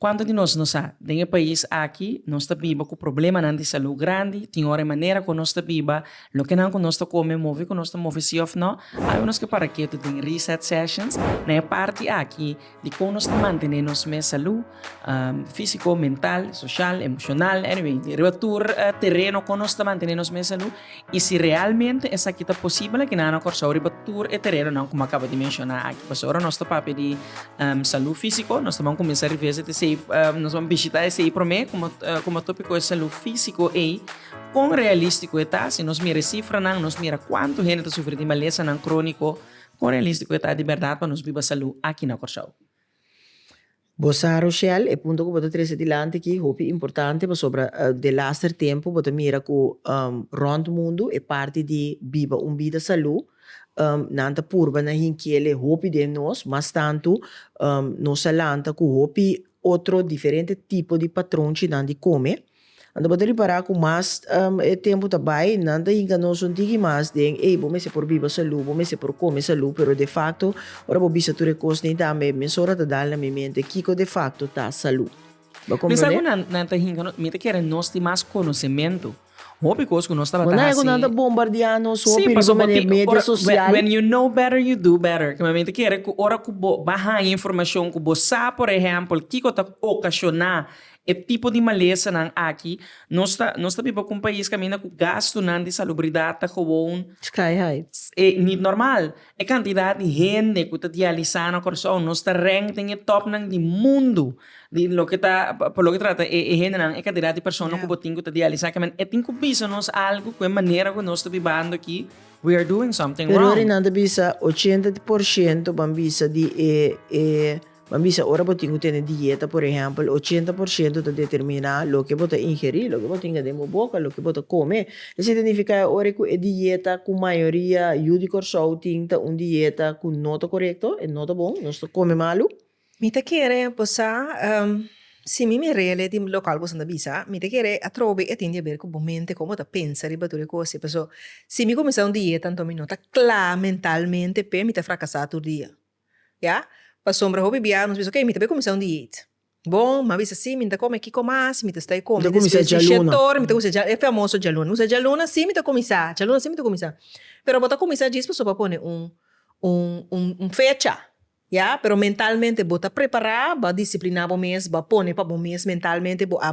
Cuanto di nos no sa, den e pais aki nos ta biba cu problemanan di salud grandi, tin ora e manera cu nos ta biba, lokenan cu nos ta come, movi cu nos ta movi si of no, awe nos ke para ketu den Reset Sessions, na e parti aki di con nos ta mantene nos mes salud, fisico, mental, social, emocional, anyway, riba tur tereno con nos ta mantene nos mes salud I si realmente esaki ta posibel, aki nan a nokorsao riba tur e teredonan komo a kaba di menshoná aki. Pasobra ora nos ta papia di salú físiko, nos ta ban kuminsá revisa di esei, nos ban bishitá esei promé, komo, komo tópiko e salú físiko ei, kon realístiko e ta? Si nos mira e sifranan, nos mira kuantu hende ta sufri di malesanan króniko, kon realístiko e ta di bèrdat pa nos biba salú aki na Kòrsou? Bo sa Rochelle, e punto cu bo ta trece dilanti aki hopi importante pasobra den laster tempo bo ta mira cu rond mundo e parti di biba un bida salu nan ta purba na hinkele hopi den nos mas tanto nos a lanta cu hopi otro diferente tipo di patronchinan di come Anto bo ta ripará ku mas e tempu ta bai, nan ta yinka nos un tiki mas den ei, bo mester por biba salú, bo mester por kome salú, pero defakto ora bo bisa tur e kos ni tambe e mes ora ta dal na mi mente kiko defakto ta salú. Bo a komprondé? Mester ku nan ta yinka nos, mi ta kere nos tin mas konosementu. Hopi kos ku nos tabata hasi. Bo na yega ku nan ta bombardeá nos hopi riba manera media sosial? When you know better, you do better. Kima mi ta kere ku ora ku bo bai haña informashon ku bo sa, por ehèmpel, kiko ta okashoná E tipo di malesanan aki, nos ta nos ta biba ku un pais kaminda ku gastunan di salubridat ta gewoon, Sky high. e nit normal. E kantidat di hende ku ta dialisá na Kòrsou, nos ta rènk den e tòpnan di mundu di loke ta pa loke trata e e hendenan, e kantidat di persona ku bo tin ku ta dialisá. Kemen e tin ku bisa nos algu ku e manera ku nos ta bibando aki, we are doing something wrong. Pero arinan ta bisa ochenta por shento, ban bisa, di e e. Ban bisa ora bo tin cu tene dieta, por ehempel, ochenta por ciento ta determina loke bo ta ingeri, loke bo tinga den bo boca, loke bo ta come. Esey ta nifica e ora cu e dieta cu mayoria yu di Corsou tin ta un dieta cu no ta corecto, e no ta bon, nos ta come malu. Mi ta kere bosa, si mi mi rele di local boso na bisa, mi ta kere atrobo bay e tin di haber cu bo mente, con bo ta pensa riba tur e cosnan, paso si mi cuminsa un dieta, anto mi no ta cla mentalmente, p'e mi ta fracasa tur dia. Ya. Pasobra hopi bia nos bisa, ok, mi ta bai kuminsá un diet. Bon, mi a bisa si mi ta kome kiko mas mi ta stay kome. Mi ta kuminsá djaluna. Mi ta kuminsá djaluna, e famoso djaluna. Mi bisa djaluna si mi ta kuminsá, djaluna si mi ta kuminsá. Pero bo ta kuminsá djis pasobra bo a pone un un un fecha, ya, pero mentalmente bo ta prepará, bo a disipliná bo mes, bo a pone pa bo mes mentalmente bo a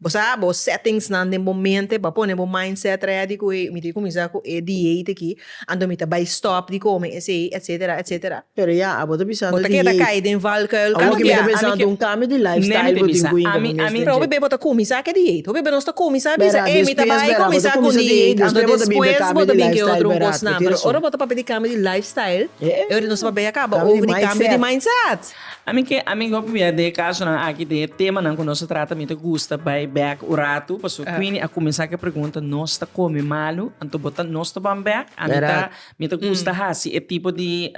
Bo sa bo settingsnan den bo mente pa pone bo mindset ready ku ey, mi tin kuminsá ku e diet aki, anto mi ta bai stòp di kome esei, etsetera, etsetera. Pero ya, abo ta bisando diet. Bo ta keda kai den valkuil ku mi ta bisa ku un kambio di lifestyle bo tin ku hinka bo mes den dje. Hopi b'e bo ta kuminsá ke diet, hopi b'e nos ta kuminsá bisa ey mi ta bai kuminsá ku un diet, anto despues bo ta bin ke otro un kosnan. Pero ora bo ta papia di kambio di lifestyle, e ora nos ta papia ya kaba over di kambio di mindset. Ami ke ami go pabia de e kasonan aki de e temanan ku nos ta trata mi ta gusta bai bèk un ratu pasobra Queenie a kuminsá ku e pregunta nos ta kome malu anto bo ta nos ta ban bèk ami ta mi ta gusta hasi e tipo di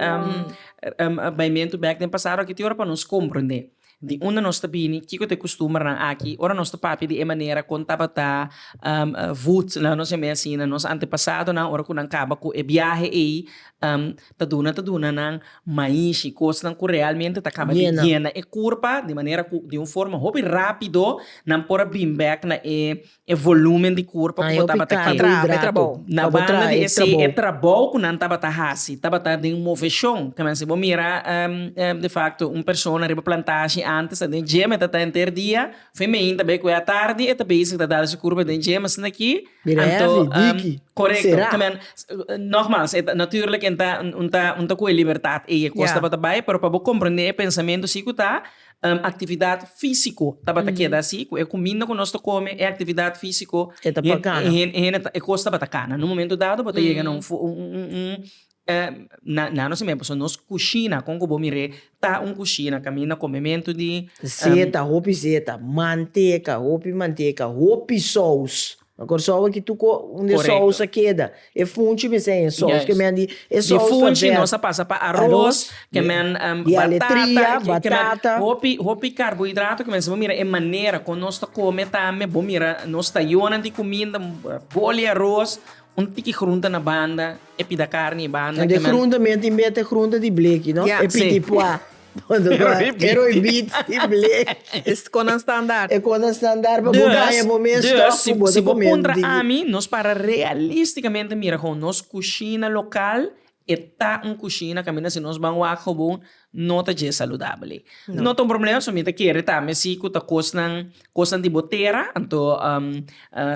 baimentu bèk den pasado aki te ora pa nos komprondé di unda nos ta bini kiko ta e kustumbernan aki ora nos ta papia di e manera kon tabata vut laga nos yam'e asina nos antepasadonan ora ku nan kaba ku e biahe ei ta duna ta duna nan maishi, kosnan ku realmente ta kaba di yena e kurpa, di manera ku di un forma hopi rápido nan por a bring back na e volúmen di kurpa ku bo tabata kere. Na banda di esei e trabou ku nan tabata hasi tabata den moveshon. Ta mester bo mira defakto un persona riba plantashi ántes ta den gim e ta ta henter dia, fin mehinta beku e atardi e ta bezig ta dal su kurpa den gim asina ki. Anto, korekto, ta men, nogmas, e ta, natuurlijk e ta, un ta, un ta ku e libertat ei, e kos tabata bai, pero pa bo komprendé e pensamentu si ku ta, aktividat físiko tabata keda si, ku e kuminda ku nos ta kome, e aktividat físiko, e kos tabata kana. Na un momentu dado bo ta yega na un na nos tempo so nos kushina kon ku bo mir'é ta un kushina kaminda komementu di. Zeta, hopi zeta, manteka, hopi manteka, hopi sous, na Kòrsou aki tur ko unda e sous a keda e funchi mester a yen sous kemen di e sous ta verd. Di funchi nos a pasa pa aros kemen batata kemen hopi hopi karbohidrato kemen si bo mira e manera kon nos ta kome tambe bo mira nos tayonan di kuminda boli aros un tiki grunta na banda E pida karni i banda. Kende grunta men tin bete grunta di bleki no? E piti pua. E roi bit di bleki. E konan standar. E konan standar pa bo gaya bo mes stof ku bo ta kume un di. Dùs, si bo puntra ami, nos para realistikamente mira kon nos kushina lokal e ta un kushina kaminda si nos ban wak gewoon No ta dje saludabel ei. No ta un problema so mi ta kere tambe si ku ta kosnan kosnan di bo tera anto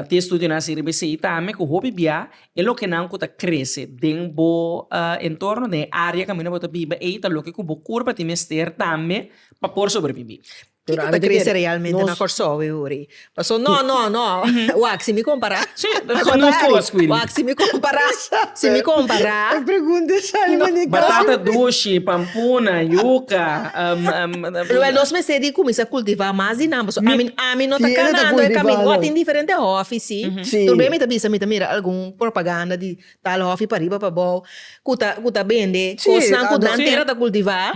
tin estudionan asi riba esei tambe ku hopi bia e lokenan ku ta krese den bo entorno den e área kaminda bo ta biba ei ta loke ku bo kurpa tin mester tambe pa por sobreviví. Kiko ta krese realmente na Kòrsou e uri? Paso no, no, no, wak, si mi kompará, wak, si mi kompará, si mi kompará. E pregunta e sali manera i kasa. Batata dushi, pampuna, yuka. Lo nos mester di kuminsá kultivá mas di nan, paso ami, ami no ta kanando e kaminda. Awo a tin diferente hòfi, si. Tur bey mi ta bisa, mi ta mira algun propaganda di. tal hòfi pariba pabou ku ta ku ta bende Sí, kosnan ku ado- nan Sí. tera ta kultivá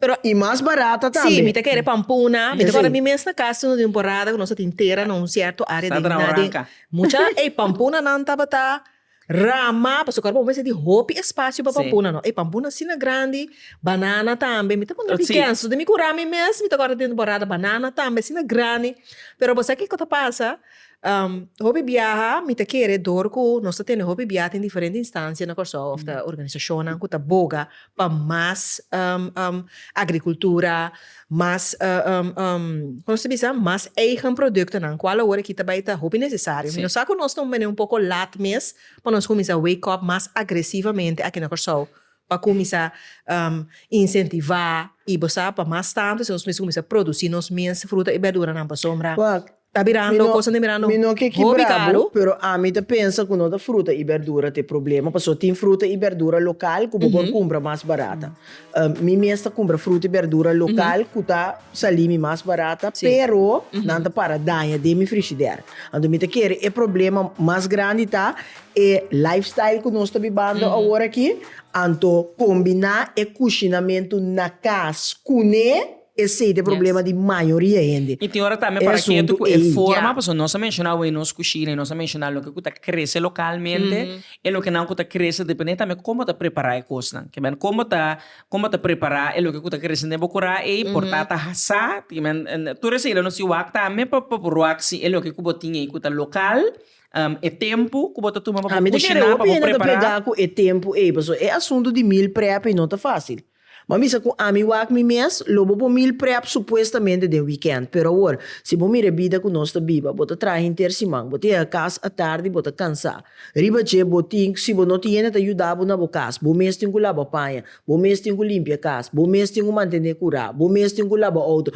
pero I mas barata sí tambe. mi ta kere pampuna mi ta Sí. kòrda mi mes na kas tuna di un porada ku nos a tin tera na un sierto área den Sabra naden Oranca. mucha ey pampunanan tabata rama pasobra kòrda bo mes a tin hopi espasio pa Sí. pampuna no ey pampuna asina grandi banana tambe mi ta wòrdu Sí. dikèn so te mi kurá mi mes mi ta kòrda den un temporada banana tambe asina grandi pero bo sa kiko ta pasa. Hopi biaha mi ta kere dor ku nos ta tene hopi biaha den diferente instansia na Kòrsou òf ta organisashonnan ku ta boga pa mas agrikultura, mas kon no ta bisa mas eigen produktonan ku alawor aki ta bai ta hopi nesesario. Mi no sa ku nos ta un manera un poko lat mes pa nos kuminsá wake up mas agresivamente aki na Kòrsou pa kuminsá insentivá i bo sa pa mas tantu esei nos mester kuminsá produsí nos mes fruta i bèrduranan pasobra. Ta birando cosa ta mirando hopi caro. Mi no ke kibra bo, pero ami ta pensa cu no ta fruta y berdura ta e problema, pasobra tin fruta y berdura local cu bo por cumpra mas barata. Mi mes ta cumpra fruta y berdura local cu ta sali mi mas barata, pero nan ta para daña den mi frishider. Anto mi ta kere e problema mas grandi ta e lifestyle cu nos ta bibando awor aki, anto combina e cushinamentu na cas cune. Esey ta e problema di mayoria hende. I tin ora tambe para ketu ku e forma, pasobra nos a menshona awor nos kushina i nos a menshona loke ku ta krese lokalmente i loke nan ku ta krese depende tambe kon bo ta prepará e kosnan. Ke men, kon bo ta kon bo ta prepará e loke ku ta krese den bo kura ei por ta ta hasá, ke men, tur esei lo no si wak tambe pa por wak si e loke ku bo tin ei ku ta lokal, e tempu ku bo ta tuma pa bo kushiná, pa bo prepará. Ami ta kere hopi hende ta plegá ku e tempu ei, pasobra e asuntu di meal prep ei no ta fásil. Bo a misa cu ami wak mi mes, lo bo por meal prep supuestamente den weekend. Pero awor, si bo mira e bida cu nos ta biba, bo ta traha hinter siman, bo ta yega cas atardi, bo ta cansa. Riba dje, bo tin, si bo no tin hende ta yuda bo na bo cas, bo mes tin cu laba paña, bo mes tin cu limpia cas, bo mes tin cu mantene cura, bo mes tin cu laba auto,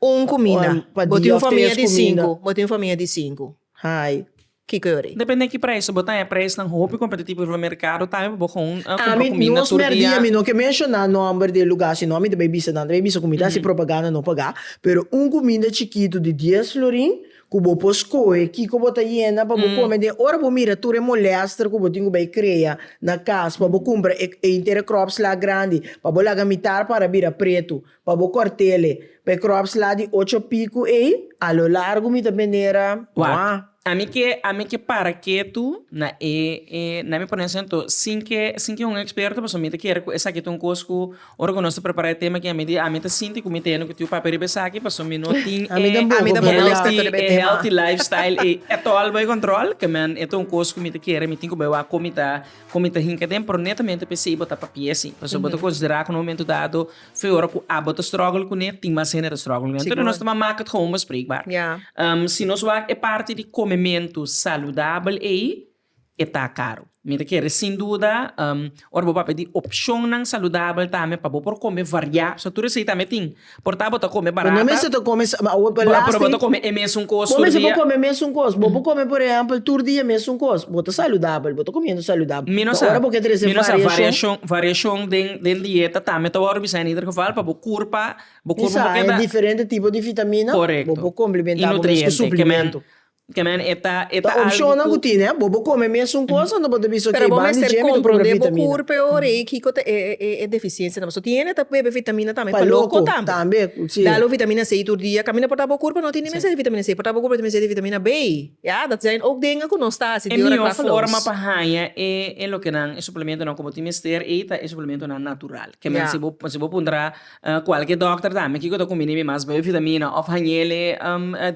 Un kuminda. Bo tin un famia di sinku. Bo tin un famia di sinku. Hai. Kiko e ori? Depende ki prijs. Si bo ta haña prijsnan hopi kompetitivo riba merkado ta haña pa bo kon a kumpra kuminda tur dia. Nos merdí, ami no ke menshoná nòmber di e lugá asina. Ami ta bai bisa nan, ta bai bisa kuminda si propaganda no pagá. Pero un kuminda chikitu di dies florin ku bo por skohe kiko bo ta yena pa bo kome den ora bo mira tur e molèster ku bo tin ku bai krea na kas pa bo kumpra e Intercrops la grandi pa bo laga mitar para bira pretu Pa bo cortele. Pa e crops la di ocho piku ey, a lo largu mi ta benera Wak. Ami ke ami ke para ketu na e e na mi ponen sento sin ke sin ke un experto pasobra mi ta kere ku esaki ta un kos ku ora ku nos ta prepara e tema ke ami di ami ta sinti ku mi tene ku tiu papia riba esaki pasobra mi no tin e Ami tampoco, ami tampoco pero ya. tin e healthy life style ey etol bai control kemen e ta un kos ku mi ta kere mi tin ku bai wak kon mi ta kon mi ta hinka den pero netamente p'esei bo ta papia si pasobra bo ta considera ku na un momento dado Fe ora ku abo ta struggle kuné tin mas hende ta struggle kuné. Entonces nos ta mama mak het gewoon bespreekbaar. Si nos wak e parti di kome mentu saludabel ei e ta karu. Mi ta kere sin duda ora bo papia di opshonnan saludabel tambe pa bo por kome variá pasobra tur esei tambe tin. Por ta bo ta kome barata. Bo no mester ta kome pero bo ta kome e mesun kos tur dia. Bo mester por kome e mesun kos. Bo por kome por ehèmpel tur dia e mesun kos. Bo ta saludabel, bo ta komiendo saludabel. Pero ora bo ke trese variashon. Mi no sa variashon, variashon den Den dieta tambe ta wòrdu bisa en ieder geval pa bo kurpa, bo kurpa no keda. Disa e diferente tipo di vitamina. Korekto. Bo por komplementá bo mes ku suplimentu. Y nutriente ke men e ta algu ku. Ta opshonnan ku tini, bo por kome mesun kos ando bo ta bisa oke ban di dje mi ta kumpra vitamina. Pero bo mester komprondé bo kurpa e ora ei kiko ta e defisiensianan. Pasobra tini hende ta bebe vitamina tambe pa loko tambe. Pa loko tambe. Dalo vitamina C tur dia. Kaminda por ta bo kurpa no tini mester di vitamina C. Por ta bo kurpa tene mester di vitamina B. Ya, dat zijn ook dingen ku nos ta hasi di ora klak los. E mihó forma pa haña e e lokenan, e suplementonan ku bo tin mester, ei ta e suplementonan natural. Ke men si bo si bo puntra kualke dòkter tambe kiko ta kombini mi mas, B-vitamina òf hañele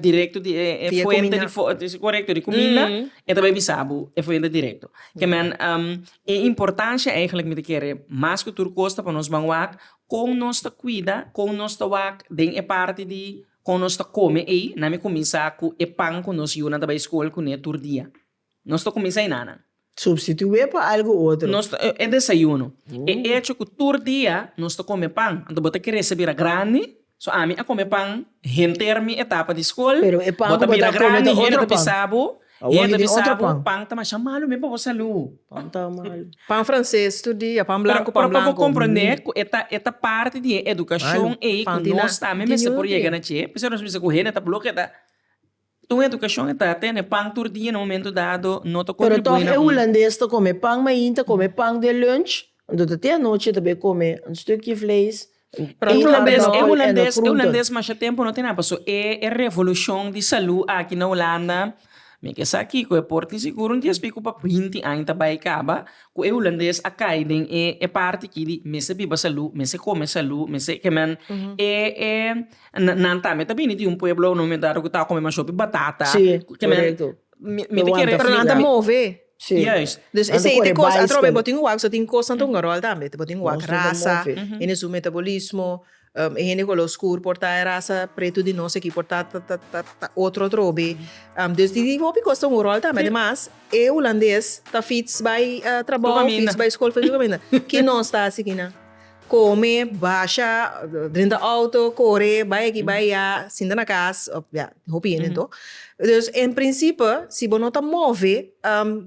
direkto di e fuente di fuente, korekto, di kuminda, e ta bai bisa bo e fuente direkto. Ke men e importansha eigentlik mi ta kere mas ku tur kos ta pa nos ban wak kon nos ta kuida, kon nos ta wak den e parti di. Kon nos ta kome ei? Nan mi kuminsá ku e pan ku nos yunan ta bai skol kuné tur dia. Nos ta kuminsá i na nan. Supstitué pa algu otro. Nos ta. E desayuno. E echo ku tur dia nos ta kome pan. Anto bo ta kere sa bira grandi? So ami a kome pan henter mi etapa di skol. Pero e pan ku bo ta kome ta otro pan. Bo ta bira grandi, hende ta bisa bo Awor mi tin otro pan. Pan ta masha malu men pa bo salu. Pan ta malu. Pan frances tur dia, pan blanco, pan blanco. Pero pa bo comprende cu e ta, e ta parti di e educacion ey cu nos tambe mester por yega na dje. P'esei nos mester cu hende ta bloke ta ta un educacion e ta tene pan tur dia na un momento dado no ta contribui na un. Pero toch e Hulandes ta come pan main, ta come pan den lunch, anto ta tin anochi ta bay come un stukje vlees, E hulandes e hulandes e hulandes masha tempo no tin apa so e e revolucion di salud aki na hulanda mi ke sa kiko e por tin seguro dies pico pa binti aña ta bai caba cu e hulandes a cay den e e parti ki di mester biba salud mester come salud mester ke men e e nan nan tambe ta bini di un pueblo no mi ta cu ta come ma shopi batata mi mi ta kere Juist. Dus esei ta cos atrobe bo tin wak so tin cos nan ta hunga rol tambe. Bo tin wak raza, hende su metabolismo, e hende color oscur por ta e raza preto di nos aki por ta ta otro atrobe. Dus di hopi cos ta hunga rol tambe. Ademas e hulandes ta fits bai trabou, fits bai school, fits bai caminda. Ki nos ta haci aki nan? Kome, basha, drenta outo, kore, bai aki, bai aya, sinta na kas, òf ya, hopi hende anto. Dus, en prinsipe, si bo no ta move,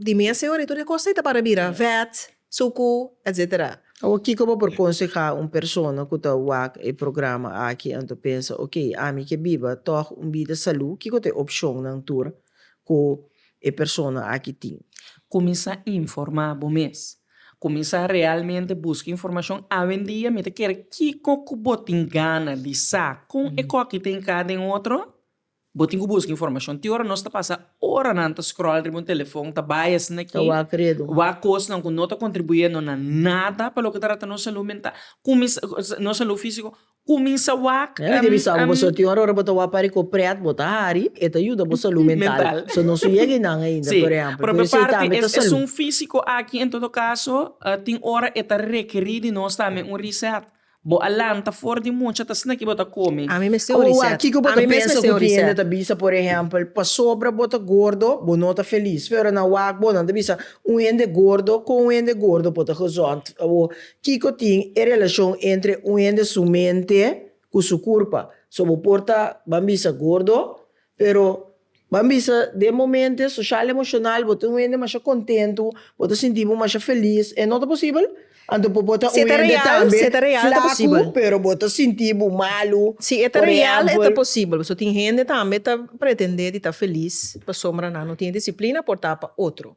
di mi a seu aritu di e kos ei ta para bira vèt, suku, etsetera. Awor, kiko bo por konsehá un persona ku ta wak e programa aki en ta pensa, ok, ami ke biba tòg un bida salú, kiko ta e opshonnan tur ku e persona aki tin? Kuminsá informá bo mes. Kuminsá realmente buska informashon awendia mi ta kere kiko ku bo tin gana di sa kon e koki ta enká den otro? Bo tin ku buska informashon te ora nos ta pasa oranan ta scroll riba un telefon ta bai asina aki wak kosnan ku no ta kontribuiendo na nada pa loke ta trata nos salú mental kuminsá nos salú físiko Kuminsa wak. Nan a debe sa ku pasobra tin ora ora bo ta wak pare ku e prèt bo ta hari e ta yuda bo salú mental. So no su yega einan ainda por ehèmpel. Pero esei tambe ta salú. Esun físiko aki en todo kaso tin ora e ta rekerí di nos tambe un reset. Bo a lanta for di mucha ta snaki bo ta kome. Ami mester un reset. Oa kiko bo ta pensa ku kiende ta bisa por ehèmpel pasobra bo ta gordo bo no ta felis. Pero nan wak bo nan ta bisa un hende gordo kon un hende gordo por ta gozon. Kiko tin e relacion entre un hende su mente cu su curpa? So bo por ta ban bisa gordo pero ban bisa den momente social emocional bo ta un hende masha contento bo ta sinti bo masha feliz e no ta posibel? Anto bo por ta un hende tambe flacu pero bo ta sinti bo malu por ejemplo. So tin hende tambe ta pretende di ta feliz pasobra nan no tin e disciplina por ta pa otro.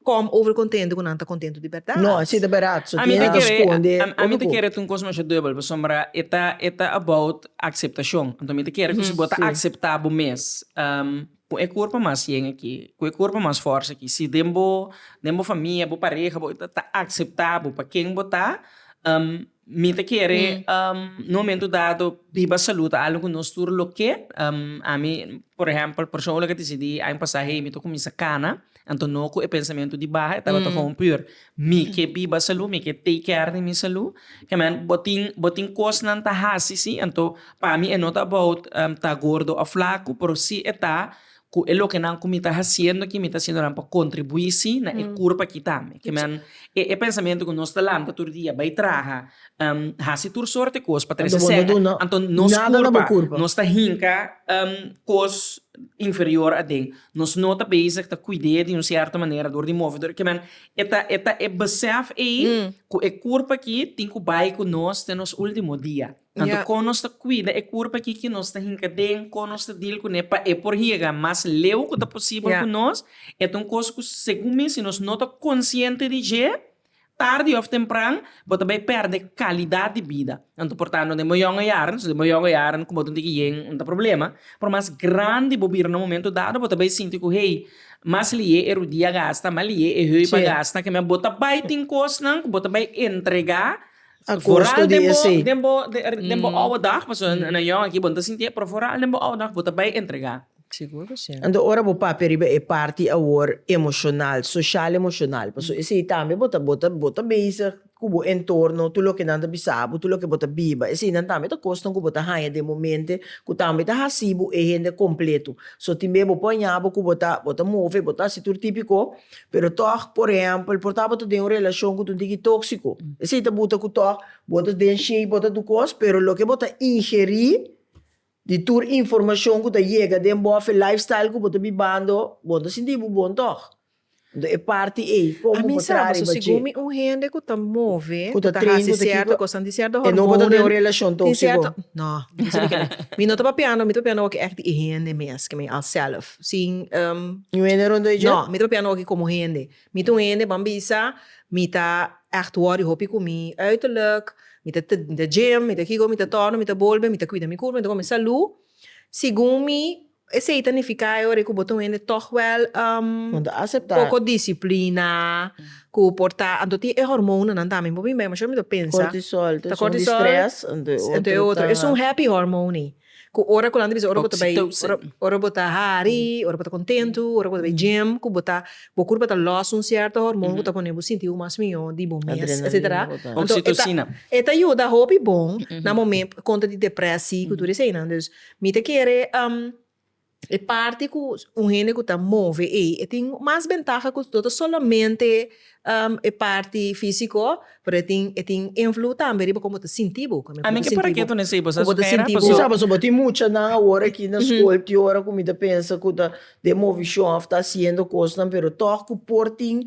Kom over kontentu ku nan ta kontentu di bèrdat? No, si ta bèrdat su tiene ku skonde otra kos. Ami ta kere ta un kos masha dubel pasobra e ta e ta about akseptashon. Anto mi ta kere ku si bo ta akseptá bo mes ku e kurpa mas yen aki, ku e kurpa mas fòrse aki, si den bo den bo famia, bo pareha, bo ta akseptá bo pa ken bo ta, Mi ta kere na un momento dado biba salud ta algo cu nos tur lo ke. Ami por ehempel persoonlijk a decidi aña pasa hey mi ta cuminsa cana anto no cu e pensamento di baha e tabata gewoon puur mi ke biba salud mi ke take care di mi salud kemen bo tin bo tin cosnan ta haci si anto pa mi e no ta about ta gordo of flaco pero si e ta cu e lokenan cu mi ta haciendo aki, mi ta haciendo nan pa contribui si na e cur pa kita mi. Ke nan, e, e pensamento cu nos ta lanta tur dia bay traha, haci tur soorte cos pa trece cen, anto nos curpa, nos ta hinca cos inferior aden. Nos no ta bezig ta cuide di un cierto manera door di move, door di kimen, e ta, e ta e besef ey cu e curpa aki tin cu bay cu nos te nos ultimo dia. Anto kon nos ta kuida e kurpa ki ki nos ta hinka den, kon nos ta dil kuné pa e por yega mas leu ku ta posibel ku nos, e ta un kos ku segun mi si nos no ta konsiente di dje, tardi òf tempran bo ta bai pèrdè kalidat di bida. Anto por ta no den bo yongo yaran, si den bo yongo yaran komo tin tiki yen no ta problema, por mas grandi bo bira na un momento dado bo ta bai sinti ku hey mas liye e rudia gasta, mas liye e heup a gasta, kemia bo ta bai tin kosnan ku bo ta bai entregá Vooral den bo den bo den bo ouwe dag pasobra nan nan yòn aki bo no ta sinti e pero vooral den bo ouwe dag bo ta bai entregá. Anto ora bo papia riba e parti awor emoshonal, soshal emoshonal pasobra esei tambe bo ta bo ta bo ta bezig ku bo entorno tur loke nan ta bisa bo tur loke bo ta biba eseinan tambe ta kosnan ku bo ta haña den momente ku tambe ta hasi bo e hende kompletu so tin be bo por ña bo ku bo ta bo ta move bo ta hasi tur típiko pero tòg, por ehèmpel, por tabata den un relashon ku ta un tiki tóksiko, esei ta buta ku tòg bo ta den shei, bo ta du kos, pero loke bo ta ingerí di tur informashon ku ta yega den bo òf e lifestyle ku bo ta bibando, bo ta sinti bo bon tòg. Nto e parti ei, kon bo por traha riba dje? Segun mi un hende ku ta move, ku ta hasi sierto kosnan, tin sierto hormonnan, e no bota den un relashon tóksiko. Tin sierto, no, mi no ta papiando, mi ta papiando awor ke ègt di e hende mes, ke mi alsèlf. sin ehm. Ni un hende rond'e dje? No, mi ta papia no aki komo hende. Mi ta un hende ban bisa mi ta ègt wòri hopi ku mi uiterlijk, mi ta mi ta gym, mi ta kiko, mi ta tòrna, mi ta bolbe, mi ta kuida mi kurpa, mi ta kòm mi salu. Segun mi, esei ta nifiká e ora ku bo ta un hende tòg wèl ehm. Bo ta aseptá. Poko disiplina, ku por ta anto tin e hormonnan nan tambe. Bo bin bèi, masha mi ta pensa. Kortisol, ta un strès. Èn tu e otro. Es un happy hormone. Ku ora ku nan ta bisa ora bo ta bai ora bo ta hari ora bo ta kontentu ora bo ta bai djem ku bo ta bo kurpa ta lòs un sierto hormon ku ta pone bo sinti bo mas mihó di bo mes etsetera anto e ta e ta yuda hopi bon na momen kontra di deprèsi ku tur eseinan dus mi ta kere. E parti cu un hende cu ta move ey e tin mas bentaha cu no ta solamente e parti fisico pero e tin e tin invloed tambe riba como bo ta sinti bo. Ami ke por aki tune sey bo sa su hera paso. Mi sa paso bo tin muchanan awor aki na school ti ora cu mi ta pensa cu ta den movicion of ta haciendo cosnan pero tog cu por tin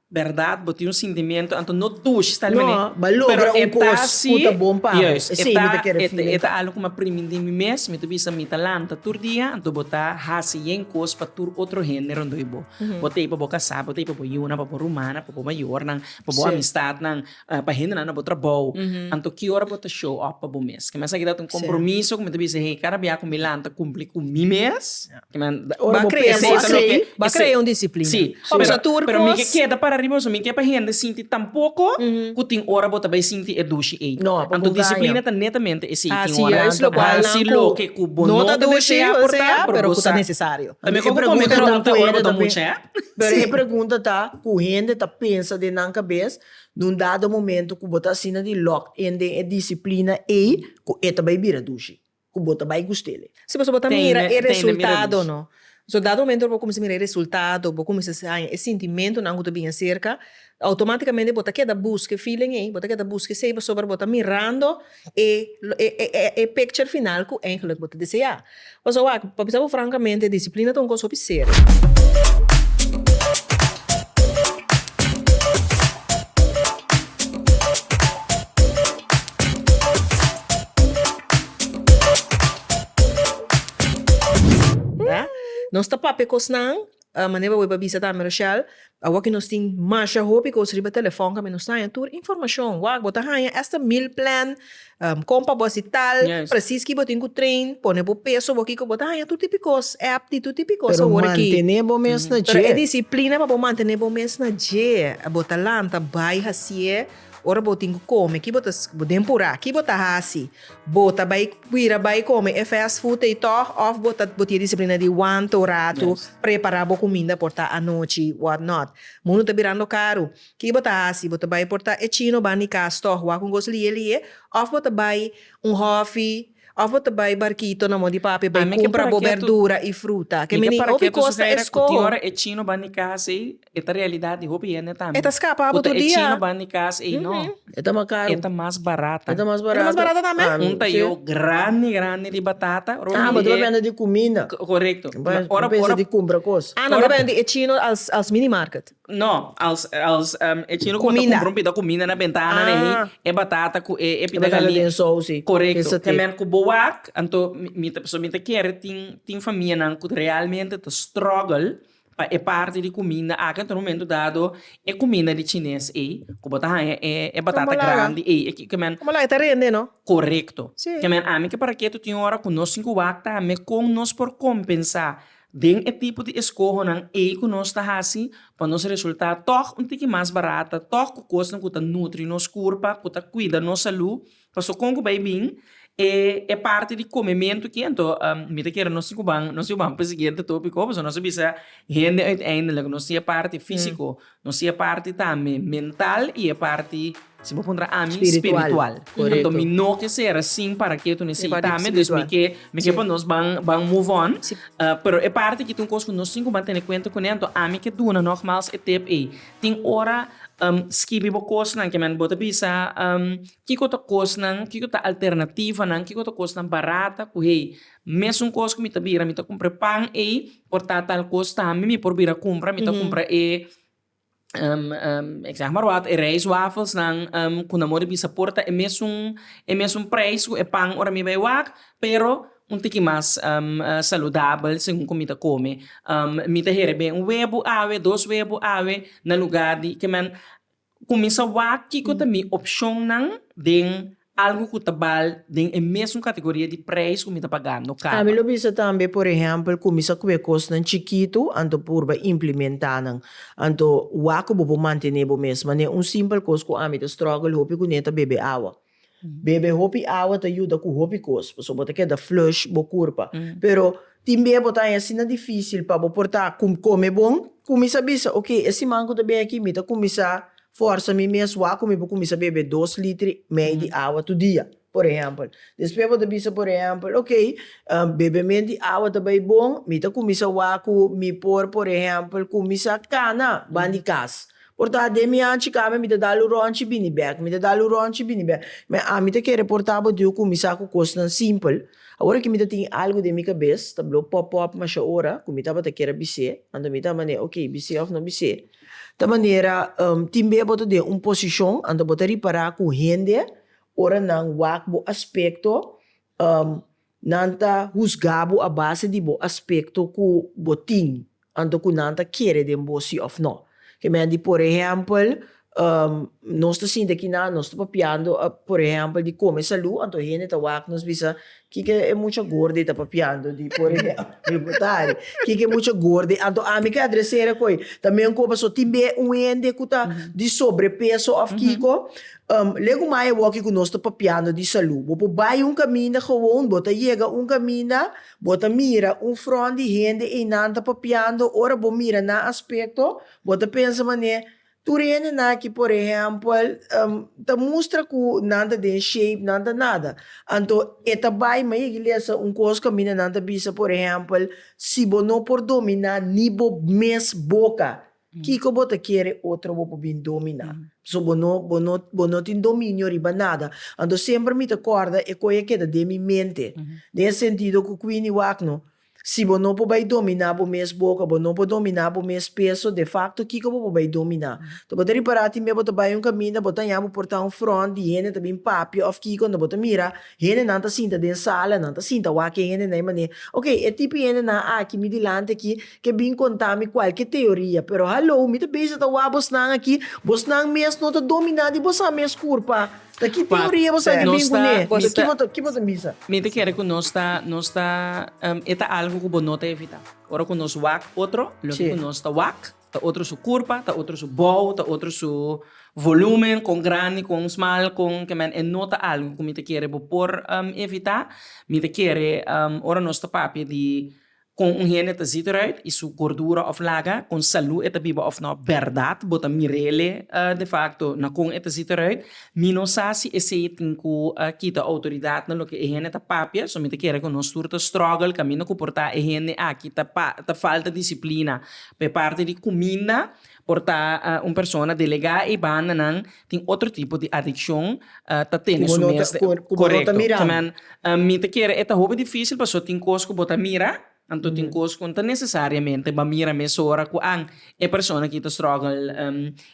Berdad, bo tin un sintimiento, anto no tush sta limpio no, bo a logra un cos cu ta bon pa bo, esey mi ta kere feeling caro. E ta algo cu mi a primi di mi mes, mi ta bisa mi ta lanta tur dia, anto bo ta haci yen cos pa tur otro hende rondoi bo, bo ta y pa bo casa, bo ta y pa bo yuna, pa bo rumana, pa bo mayornan, pa bo amistadnan, pa hendenan na bo trabou, anto ki ora bo ta show up pa bo mes? Kè esaki ta un kompromiso ku mi ta bisa hei, kada bia ku mi lanta kumpli ku mi mes, ora bo pensa asei, ba krea un disiplina. Sí, pero mi ke keda para riba eso, mi ke pa hende sinti tampoko ku tin ora bo ta bai sinti e dushi ei. Anto disiplina ta netamente esei, tin ora bo ta hasi loke ku bo no ta desea por ta, pero ku ta nesesario. Tambe kon ku mi pregunta ora bo ta mucha. Pero e pregunta ta ku hende ta pensa den nan kabes, Na un dado momento ku bo ta asina di locked in den e disiplina ei ku e ta bai bira dushi, ku bo ta bai gust'el. Si pasobra bo ta mira e resultado no. So dado momento bo kuminsá mira e resultado, bo kuminsá haña e sintimentunan ku ta bini aserka, outomátikamente bo ta keda buska e feeling ei, bo ta keda buska esei pasobra bo ta mirando e e picture final ku engelik bo ta deseá. Pasobra wak pa bisa bo frankamente disiplina ta un kos hopi serio. Nos ta papia kosnan Manera bo a bisa tambe Rochelle, awor ke nos tin masha hopi kos riba telefòn kaminda nos ta haña tur informashon. Wak bo ta haña asta meal plan, kon pa bo hasi tal, presis ki bo tin ku train, pone bo peso bo, kiko bo ta haña tur tipo e kos, app di tur tipo e kos awor aki. Pero mantene bo mes na dje. Pero e disiplina pa bo mantene bo mes na dje, bo ta lanta bai hasié, ora bo tin ku kome, ki bo ta, den purá, ki bo ta hasi? Bo ta bai bira bai kome e fast food ei tòg of bo ta bo tin e disiplina di wanta un ratu prepara bo kuminda por ta anochi what not. Mundu ta birando karu. Ki bo ta hasi? Bo ta bai por ta e chino ban di kas tòg wak un kos liye liye of bo ta bai un hòfi of bo ta bai barkito na mò di pape bai kumpra bo bèrdura i fruta. Ke mi nin hopi kos ta eskoho. E ta realidad di hopi hende tambe. E ta scapa bo tur dia. Cu ta e chino ban di cas ey no. E ta mas caro. E ta mas barata. E ta mas barata. E ta mas barata tambe. Un tayo grandi grandi di batata. Ah bo ta bay bende di cuminda. Corecto. Ora bo. Ora bo. Pensa di cumpra cos. Ah no bo bay bende e chino als als mini market. No als als e chino cu ta cumpra un pida cuminda na bentana de ey. E batata cu e e pida gali. E batata den sousi. Corecto. Te merk cu bo wak anto mi mi ta mi ta kere tin tin famia nan cu realmente ta struggle. Pa e parti di cuminda aki ta rumento dado e cuminda di chines ey cu bo ta haya e batata grandi ey e kico men. Como laga e ta rende no. Corecto. Si. Kico men ami ke paraketo tin ora cu nos tin cu wak tambe con nos por compensa den e tipo di escohonan ey cu nos ta haci pa nos resulta tog un tiki mas barata tog cu cosnan cu ta nutri nos curpa cu ta cuida nos salud Paso con cu bay bin e e parti di comementu aki anto mi ta kere nos si cu ban nos si cu ban pa siguiente topi cu paso nos a bisa hende uiteindelik nos tin e parti fisico nos tin e parti tambe mental y e parti si bo puntra ami spiritual anto mi no ke ser asin para ke tu nesey tambe dus mi ke mi ke pa nos ban ban move on pero e parti aki ta un cos cu nos tin cu ban tene cuenta cune anto ami ke duna nogmals e tip ey. Tin ora skibi bo kosnan ke men bo ta bisa kiko ta kosnan kiko ta alternativanan kiko ta kosnan barata ku hei mesun kos ku mi ta bira mi ta kumpra e pan ei por ta tal kos tambe mi por bira kumpra mi ta kumpra e ik zeg maar wat e rijst wafelsnan ku nan more bisa por ta e mesun e mesun prijs ku e pan ora mi bai wak pero Un tiki mas saludabel segun ku mi ta kome. Mi ta hera ben un webu awe, dos webu awe, na luga di ke men kuminsá wak kiko ta mi opshonnan den algu ku ta bal den e mesun kategoria di preis ku mi ta pagando kaba. Mi lo bisa tambe, por ehèmpel, kuminsá ku e kosnan chikitu anto purba implimentá nan. Anto wak ku bo por mantené bo mes. Manera un simpel kos ku ami ta strògel hopi kuné ta bebe awa. Bebe hopi awa ta yuda ku hopi kos, pasobra bo ta keda flush bo kurpa. Pero tin bia bo ta haña asina difísil pa bo por ta kome bon, kuminsá bisa, Oke, e siman ku ta bin aki mi ta kuminsá fòrsa mi mes wak ku mi por kuminsá bebe dos litri mei di awa tur dia, por ehèmpel. Despues bo ta bisa, por ehèmpel, Oke, bebe men di awa ta bai bon, mi ta kuminsá wak ku mi por, por ehèmpel, kuminsá kana ban di kas. Por ta den mi anchi kami mi ta dal un rònchi bini bèk mi ta dal un rònchi bini bèk me ami ta kere por ta botiu kuminsá ku kosnan simpel awor ki mi ta tin algu den mi kabes ta blo pòp pòp masha ora ku mi tabata kere bis'é anto mi ta manera ok bis'é òf no bis'é ta manera tin be bo ta den un posishon anto bo ta ripará ku hende ora nan wak bo aspekto. Nan ta husgá bo a base di bo aspekto ku bo tin anto ku nan ta kere den bo si òf nò. Kèmen di por ehèmpel, nos ta sinti aki nan nos ta papiando por ehèmpel di kome salú, anto hende ta wak nos bisa, kiko e mucha gorde ta papiando di por ehèmpel bo ta ari? Kiko e mucha gorde? Anto ami ke adresera ku ei ta mihó ku paso tin biaha un hende ku ta di sobrepeso òf kiko, Legu maya woki ku nos ta papiando di salú. Bo por bai un kaminda gewoon, bo ta yega un kaminda, bo ta mira un front di hende einan ta papiando, ora bo mira nan aspekto, bo ta pensa man'é, tur hende nan aki por ehèmpel ta mustra ku nan ta den shape, nan ta nada. Anto e ta bai ma yegi lesa un kos kaminda nan ta bisa, por ehèmpel, si bo no por dominá ni bo mes boka, Kiko bo ta kere otro bo por bin dominá? Pasobra bo no, bo no, bo no tin dominio riba nada. Anto semper mi ta kòrda e koe a keda den mi mente, den e sentido ku Queenie wak no, Si bo no por bai dominá bo mes boka, bo no por dominá bo mes peso, de fakto kiko bo por bai dominá? Ta bo ta ripará tin mia bo ta bai un kaminda, bo ta haña bo por ta un front di hende ta bin papia òf kiko, unda bo ta mira hendenan ta sinta den sala, nan ta sinta wak e hendenan e manera, Oke, e tipo hendenan aki mi dilanti aki, ke bin konta mi kualke teoria, pero hallo mi ta bisa ta wak bosnan aki, bosnan mes no ta dominá di bosa mes kurpa, ta ki teoria bosa ta bin kuné? Ki bo ta bisa? Mi ta kere ku nos ta nos ta e ta algu ku bo no ta evitá, ora ku nos wak otro loke ku nos ta wak ta otro su kurpa, ta otro su bou, ta otro su volúmen, kon grandi, kon smal, kon ke men e no ta algu ku mi ta kere bo por evitá, mi ta kere ora nos ta papia di Kon un hende ta ziet eruit y su gordura of laga, kon salud e ta biba of no. Berdad bo ta mirele de facto na kon e ta ziet eruit. Mi no sa si esey tin cu kita autoridad na loke e hende ta papia, so mi ta kere cu nos tur ta struggle caminda cu por ta e hende aki ta falta disciplina pe parte di cuminda, Por ta un persona delegá e bandanan tin otro tipo di adikshon ta tene su mes de. Korekto. Amen. Mi ta kere e ta hopi difísil pasobra tin kos ku bo ta mira, anto tin kos ku no ta nesesariamente bo a mira mesora ku an e persona aki ta struggle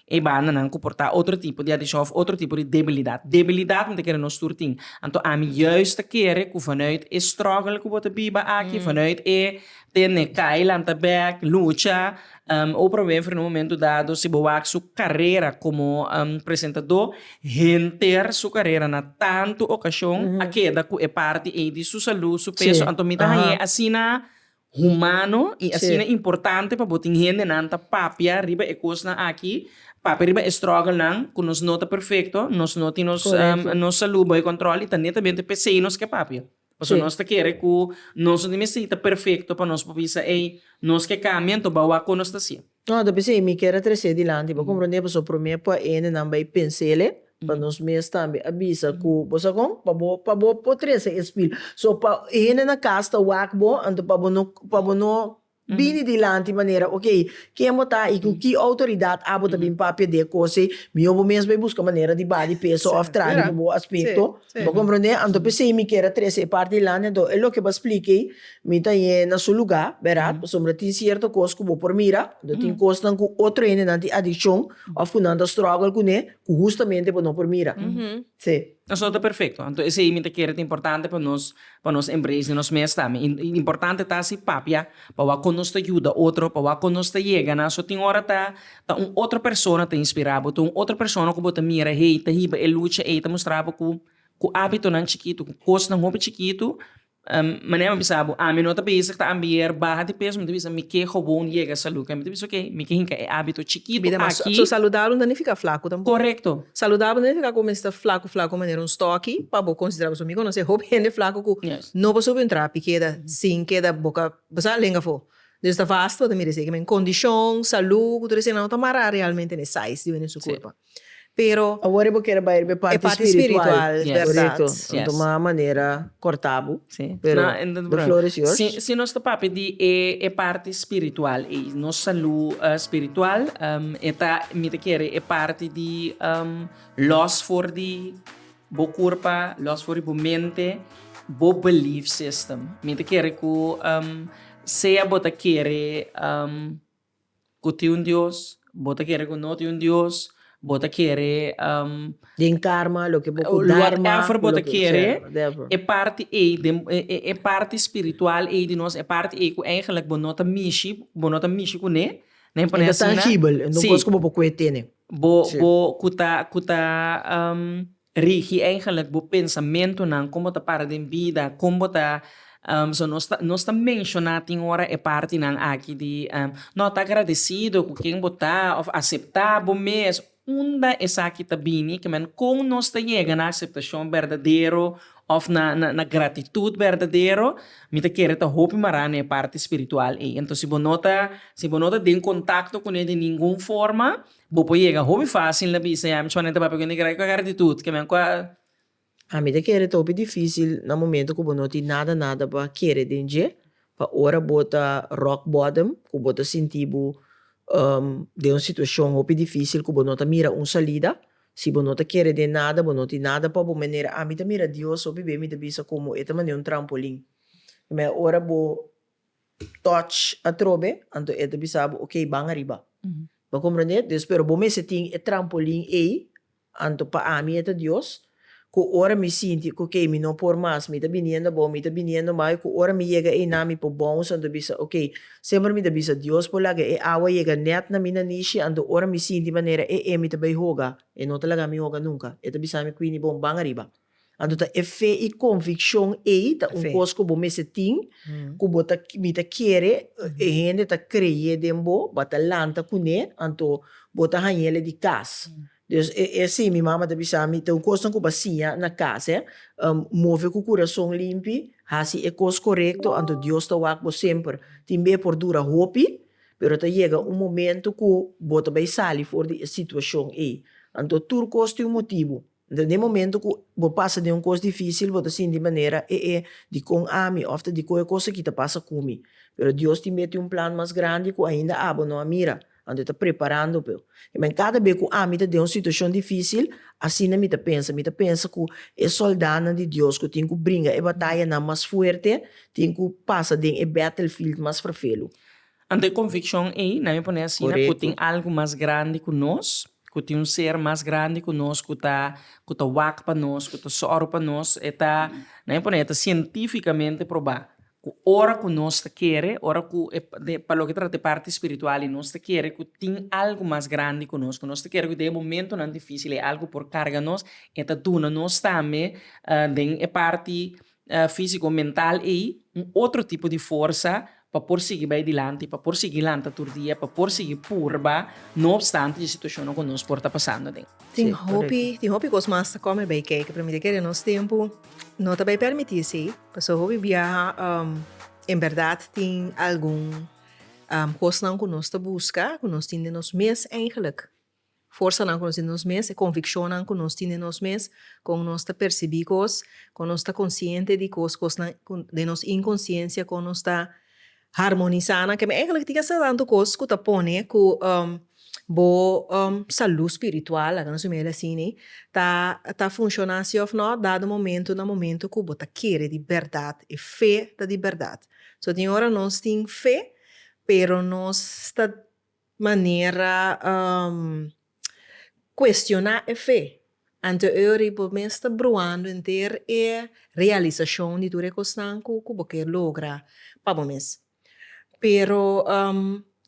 e bandanan ku por ta otro tipo di adikshon òf otro tipo di debilidat. Debilidat mi ta kere nos tur tin. Anto ami yùis ta kere ku vanuit e struggle ku bo ta biba aki, vanuit e tene kai lanta bèk, lucha, Oprah Winfrey na un momento dado si bo wak su carera como presentador henter su carera na tanto ocasion a keda cu e parti ey di su salud, su peso, anto mi ta hañ'e asina humano y asina importante pa bo tin hendenan ta papia riba e cosnan aki, papia riba e strugglenan cu nos no ta perfecto, nos no tin nos salud bay control y ta netamente p'esey nos ke papia. Pasobra nos ta kere ku nos no tin mester di ta perfekto pa nos por bisa, ei, nos ke kambia, anto bou a kon nos ta hasié. No, ta bisa ei, mi kere tresé dilanti. Bo komprondé? Pasobra promé por hendenan bai pens'ele, pa nos mes tambe a bisa ku bo sa kon, pa bo pa bo por trese e spil. So, pa hende na kas ta wak bo, anto pa bo no pa bo no Bini dilanti manera ok, ken bo ta i ku ki outoridat abo ta bin pa pede kose, mihó bo mes bai buska manera di badi peso òf tradi pa bo aspekto, bo komprondé? Anto p'esei mi kier a trese e parti dilanti, anto e loke bo a splika ei mi ta yé na su lugá, bèrdad? Pasobra tin sierto kos ku bo por mira, anto tin kosnan ku otro hendenan tin adikshon òf ku nan ta strògel kuné ku hustamente bo no por mira. Sí. Nos no ta perfecto, anto esey mi ta kere ta importante pa nos pa nos embrace di nos mes tambe y y importante ta si papia pa wak con nos ta yuda otro, pa wak con nos ta yega nan, so tin ora ta ta un otro persona ta inspira bo, ta un otro persona cu bo ta mira hey ta hiba e lucha ey ta mustra bo cu cu abitonan chikito, cu cosnan hopi chikito Manera mi bisa bo, ami no ta bisa ku ta ambier baha di peso, mi ta bisa mi ke hobon yega salú. Kende ta bisa ok, mi ke hinka e ábito chikitu aki. So saludabel no nifika flaku tampoco. Korekto. Saludabel no nifika ku bo mester flaku flaku manera un stòki pa bo konsiderá bo. Mi konosé hopi hende flaku ku no por subi un trapi keda sin keda boka basá lenga afó. Entonces ta vasta bo ta mira esei. Kimin kondishon, salú ku tur eseinan no ta mará realmente n'e size di wen den su kurpa. Pero. Awor e bo kere bai riba e parti spiritual. E parti spiritual, es berdad. Yes. Tuma a manera corta bo. Sí. Pero bo flores yours. Si si nos ta papia di e e parti spiritual ei, nos salu spiritual, e ta mi ta kere e parti di los for di bo curpa, los for di bo mente, bo belief system. Mi ta kere cu sea bo ta kere. Ku tin un Dios, bo ta kere ku no tin un Dios, bo ta kere um. Den karma loke bo ku dharma ku loke bo ta kere e parti ei den e parti spiritual ei di nos e parti ei ku eigenlik bo no ta mishi bo no ta mishi kune na e pone asina si bo bo ku ta ku ta um Rigi eigenlik bo pensamentunan, kon bo ta para den bida, kon bo ta so nos ta nos ta menshoná tin ora e partinan aki di nò ta agradesido ku ken bo ta òf aseptá bo mes. Unda esaki ta bini? Kiman kon nos ta yega na aseptashon berdadero òf na na gratitut berdadero? Mi ta kere ta hopi mará na e parti spiritual ei. Entonces si bo no ta si bo no ta den kontakto kuné di ningun forma Bo por yega hopi fácil na bisa, ya mi chon a ta papia ku negra, ku a gara atitut ke men ku a. Ami ta kere ta hopi difícil na momento ku bo no tin nada nada pa kere den dje, pa ora bo ta rock bottom, ku bo ta sinti bo den un situashon hopi difícil ku bo no ta mira un salida, si bo no ta kere den nada, bo no tin nada pa bo manera. Ami ta mira Dios hopi be, mi ta bisa komo e ta mane un trampolin. Ora bo. touch atrobe, anto e ta bisa bo, ok, ban ariba. Bo a komprende? Des pero bo mester tin e trampolin ei, anto pa ami e ta Dios, ku ora mi sinti ku, ok, mi no por mas, mi ta biniendo abou, mi ta biniendo mai, ku ora mi yega einan mi por bounce, anto bisa, ok, semper mi ta bisa Dios por laga e awa yega nèt na mi na nishi, anto ora mi sinti manera e emi ta bai hoga, e no ta laga mi hoga nunka. E ta bisa mi, Quini, bon, ban ariba. Anto ta e fe i konvikshon ei ta un kos ku bo mester tin, ku bo ta mi ta kere e hende ta kreyé den bo, bo ta lanta kuné, anto bo ta hañ'el e di kas. Des e e así mi mama ta bisa mi, ta un kosnan ku bo a siña na kas, e, move ku kurason limpi, hasi e kos korekto, anto Dios ta wak bo semper. Tin be por dura hopi, pero ta yega un momentu ku bo ta bai sali for di e situashon ei. Anto tur kos tin un motibu. Den momento ku bo pasa den un kos difísil bo ta sinti manera e e di kon ami òf ta di kon e kos aki ta pasa ku mi. Pero Dios tin mete un plan mas grandi ku ainda abo no a mira, anto e ta preparando bo. I men kada be ku ami ta den un situashon difísil, asina mi ta pensa. Mi ta pensa ku e sòldánan di Dios ku tin ku bringa e batayanan mas fuerte tin ku pasa den e battlefield mas ferfelu. Anto e konvikshon ei nan mi pone asina, ku tin algu mas grandi ku nos, ku tin un ser mas grandi ku nos ku ta ku ta wak pa nos, ku ta sòru pa nos. E ta, nan mi pone e ta sientífikamente probá ku ora ku nos ta kere, ora ku e den pa loke ta trata e parti spiritual i nos ta kere ku tin algu mas grandi ku nos, ku nos ta kere ku den e momentunan difísil e algu por karga nos, e ta duna nos tambe den e parti físiko mental ei un otro tipo di forsa pa por sigui bai dilanti, pa por sigui lanta tur dia, pa por sigui purba, no opstante dje situashonnan ku nos por ta pasando den. Tin hopi, tin hopi kos mas ta kòmen bai kei, ke promé di kere nos tempu no ta bai permití esei, pasobra hopi biaha en bèrdat tin algun kosnan ku nos ta buska, ku nos tin den nos mes, eigelik. forsanan ku nos tin den nos mes, e konvikshonnan ku nos tin den nos mes, kon nos ta persibí kos, kon nos ta konsiente di kos, kosnan ku den nos inkonsiensia, kon nos ta harmonisá nan. Kèn èiglek tin hasta tantu kos ku ta pone ku bo salú spiritual, laga nos bai mira asina, ta ta funshoná sí òf nò dado momentu na momentu ku bo ta kere di bèrdat, e fe ta di bèrdat. So tin ora nos tin fe pero nos ta. manera cuestioná e fe. Anteori bo mes ta bruando henter e realisacion di tur e cosnan cu bo ker logra pa bo mes. Pero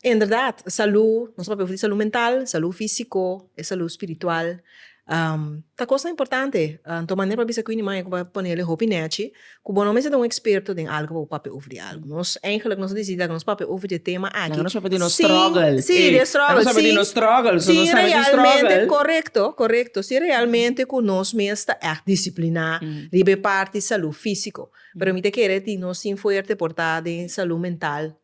inderdat salú, nos ta papia di salú mental, salú físico, e salú spiritual, Ta kosnan importante anto manera pa bisa ku ini maya ku bo a ponele hopi nèchi ku bo no mester ta un eksperto den algu pa bo papia over di algu. Nos eigenlik nos a disidi tak nos papia over di e tema aki sin. Nan no sabe di nos struggle. Si, si, di e struggle. Nan no sabe di nos struggle, so nos sabe di struggle. Korekto, korekto. Si realmente ku nos mes ta ègt disipliná riba e parti salú físiko. Pero mi ta kere tin nos tin fuerte por ta den salú mental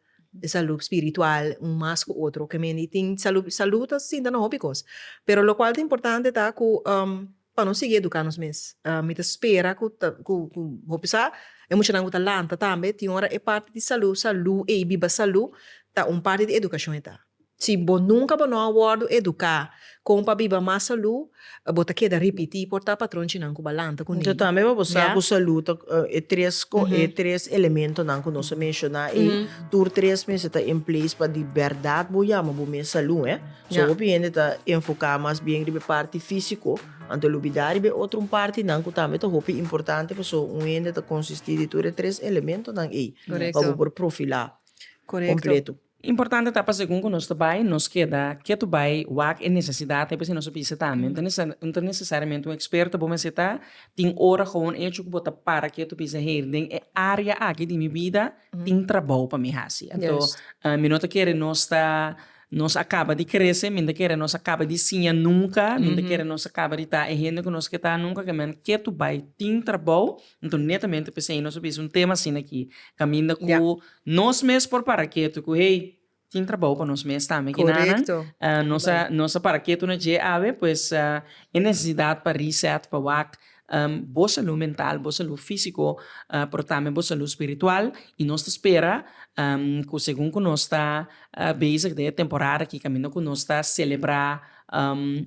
e salú spiritual un mas ku otro ke men di tin salú salú ta sinta na hopi kos pero lokual ta importante ta ku pa nos sigui eduká nos mes mi ta spera ku ta ku hopi sa e muchanan ku ta lanta tambe tin ora e parti di salú salú ei biba salú ta un parti di edukashon e ta. Si bo nunka bo no a wòrdu eduká kon pa biba mas salú, bo ta keda ripití por ta patronchinan ku balanta ku niño. Tambe pa bo sa ku salú ta e tres e tres elementonan ku nos a menshoná ei, tur tres mester ta en place pa di bèrdat bo yama bo mes salú. So hopi hende ta enfoká mas bien riba e parti físiko, anto e lubidá riba e otro un partinan ku tambe ta hopi importante. Paso un hende ta konsistí di tur e tres elementonan ei pa bo por profilá kompleto. Importante ta pa segun ku nos ta bai nos keda ketu bai wak e nesesidat ei p'esei nos a bisa tambe no ta necesario no ta necesariamente un experto bo mester ta tin ora gewoon echo ku bo ta para ketu bisa hei den e área aki di mi bida tin trabou pa mi hasi anto mi no ta kere nos ta nos a kaba di krese mi no ta kere nos a kaba di siña nunka mi no ta kere nos a kaba di ta e hende ku nos ke ta nunka kemen ketu bai tin trabou Nton netamente p'esei nos a bisa un tema asina ki kaminda ku nos mes por para ketu ku hey, tin trabou pa nos mes tambe ki nan nos a nos a para ketu na dje awe pues e nesesidat pa reset pa wak bo salú mental, bo salú físiko pero tambe bo salú spiritual i nos ta spera ku segun ku nos ta bezig den e temporada aki kaminda ku nos ta selebrá.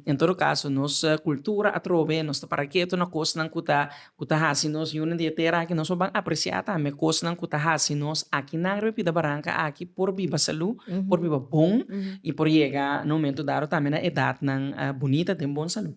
En todo kaso, nos kultura a trove, nos ta para ketu na kosnan ku ta ku ta hasi nos yunan di e tera aki. Nos lo ban apresiá tambe kosnan ku ta hasi nos akinan riba Bida Baranka aki por biba salú, por biba bon i por yega na momentu dado tambe na edatnan bunita den bon salú.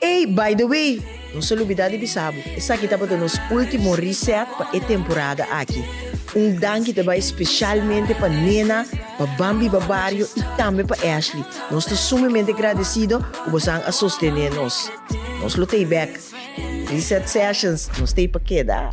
Ey, by the way, nos a lubida di bisa bo, esaki tabata nos ultimo reset pa e temporada aki. Un danki ta bay specialmente pa Nena, pa Bambi Babario y tambe pa Ashley. Nos ta sumemente gradecido cu bosan a sostene nos. Nos lo t'ey bek. Reset Sessions, nos t'ey pa keda.